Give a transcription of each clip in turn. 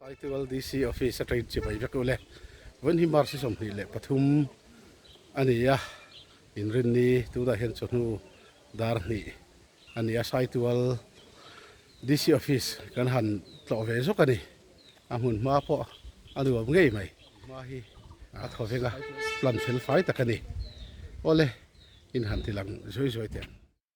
Saitual DC office a train chibai vek u le. Vawiin hi March-i sawmhnih leh pathum a ni a, inrin ni tunah hian chawhnu dar hnih a ni a, Saitual DC office kan han tlawh ve zawk a ni, a hmun hma pawh a nuam ngei mai, hma hi a thaw veng a, plan fel fai tak a ni, aw le in han tilang zuai zuai teh ang.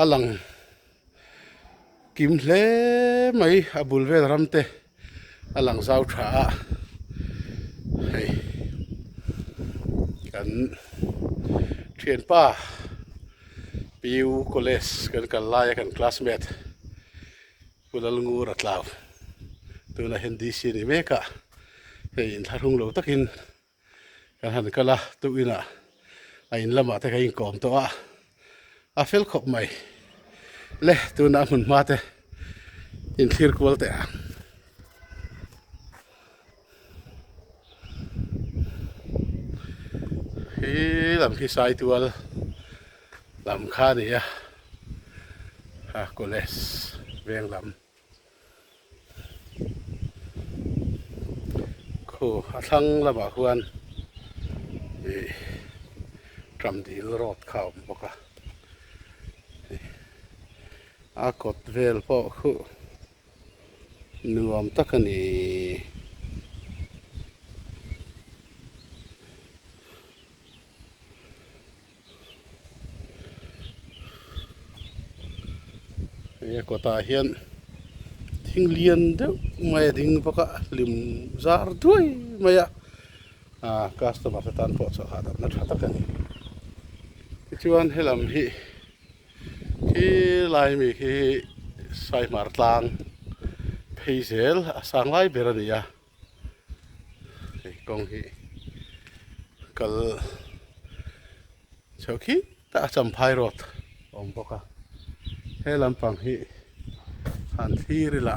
A lang kim hle mai a bul vel ram te a lang zau tha a hei kan thianpa piu college kan kal laia kan classmate pu lalngu ratlau tunah hian DC a ni mek a hei in thlahrung lo takin. Kan han kal a, tukinah a in lamah te kan inkawm tawh a, a fel khawp mai. Le tunah a hmun hma te inthlir kual teh ang. Hi lam hi Saitual lam kha a ni a, College veng lam. Khaw a thlang lamah khuan ih ṭam dil road kha a awm bawk a, a kawt vel pawh khuh nuam tak a ni. He kawtah hian thing lian deuh mai a ding bawk a hlim zar duai mai a ah customer te tan pawh chawlh hahdamna tha tak a ni tichuan he lam hi khi lai mi khi saihmar tlang phei zel a sang lai ber a ni a. hei kawng hi kal chho khik ta champhai road awm bawk a he lampang hi han thlir ila